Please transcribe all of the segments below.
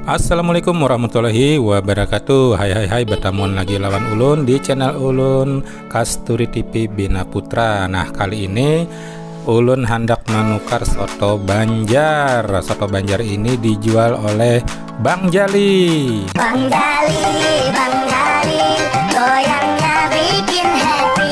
Assalamualaikum warahmatullahi wabarakatuh Hai hai hai bertamuan lagi lawan Ulun di channel Ulun Kasturi TV Bina Putra Nah kali ini Ulun hendak menukar soto Banjar Soto Banjar ini dijual oleh Bang Jali Bang Jali, Bang Jali Goyangnya bikin happy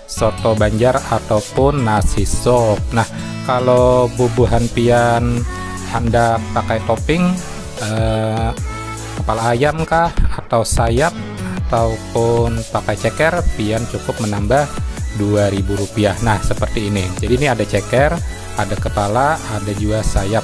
Soto banjar atau pun nasi sop nah kalo bubuhan pian handak pakai topping kepala ayam kah atau sayap atau pun pakai ceker pian cukup menambah dua ribu rupiah nah seperti ini jadi ini ada ceker ada kepala ada jua sayap.